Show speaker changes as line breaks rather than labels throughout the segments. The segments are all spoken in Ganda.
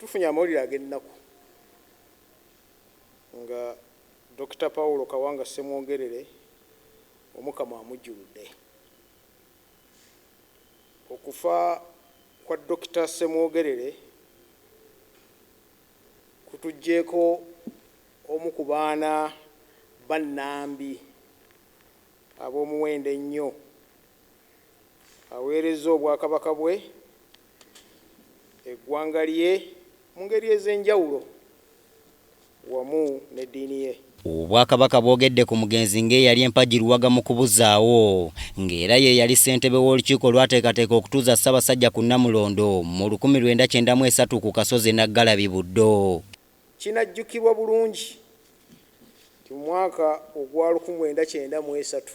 Tufunye amawulire
ag'ennaku nga Dokita Paul Kawanga Ssemwogerere Omukama amujjuludde. Okufa kwa Dokita Ssemwogerere kutujjeeko omu ku baana ba Nambi ab'omuwendo ennyo. Aweerezza Obwakabaka bwe. eggwanga lye mu ngeri ez'enjawulo wamu n'eddiini ye. Obwakabaka
bwogedde ku mugenzi ng'eyali empagi luwaga mu kubuzaawo ng'era yeeyali ssentebe w'olukiiko olwateekateeka okutuuza Ssabasajja ku Namulondo mu lukumi lwenda kyenda mu esatu ku kasozi e Naggalabi Buddo. Kinajjukirwa
bulungi nti mu mwaka ogwa luku mwenda kyenda mu esatu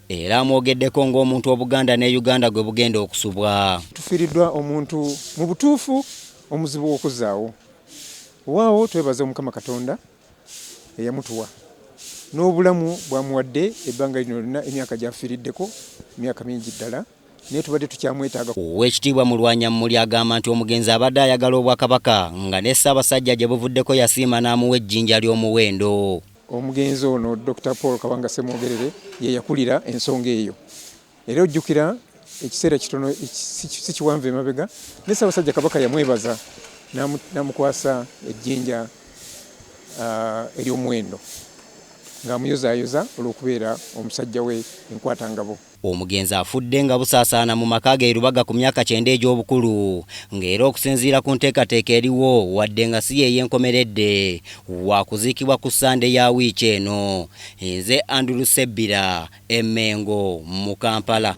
Era amwogeddeko ng'omuntu Obuganda ne Uganda gwe bugenda okusubwa. Tufiiriddwa omuntu
mu butuufu omuzibu w'okuzzaawo. Wewaawo twebaza Omukama Katonda eyamutuwa n'obulamu bw'amuwadde ebbanga lino lyonna emyaka gy'afiiriddeko myaka mingi ddala naye tubadde tukyamwetaaga. Oweekitiibwa
Mulwanyammuli agamba nti omugenzi abadde ayagala Obwakabaka nga ne Ssaabasajja gye buvuddeko yasiima n'amuwa ejjinja ly'omuwendo. Omugenzi ono
Dokita Paul Kabanga Ssemwogerere ye yakulira ensonga eyo era ojjukira ekiseera kitono si kiwanvu emabega ne Ssaabasajja Kabaka yamwebaza n'amukwasa ejjinja ery'omuwendo ng'amuyozaayoza olw'okubeera omusajja we enkwatangabo. Omugenzi afudde
nga busaasaana mu maka ge e Lubaga ku myaka kyenda egy'obukulu nga era okusinziira ku nteekateeka eriwo wadde nga si y'ey'enkomeredde, waakuziikibwa ku Ssande ya wiiki eno. Nze Andrew Ssebbira e Mmengo mu Kampala.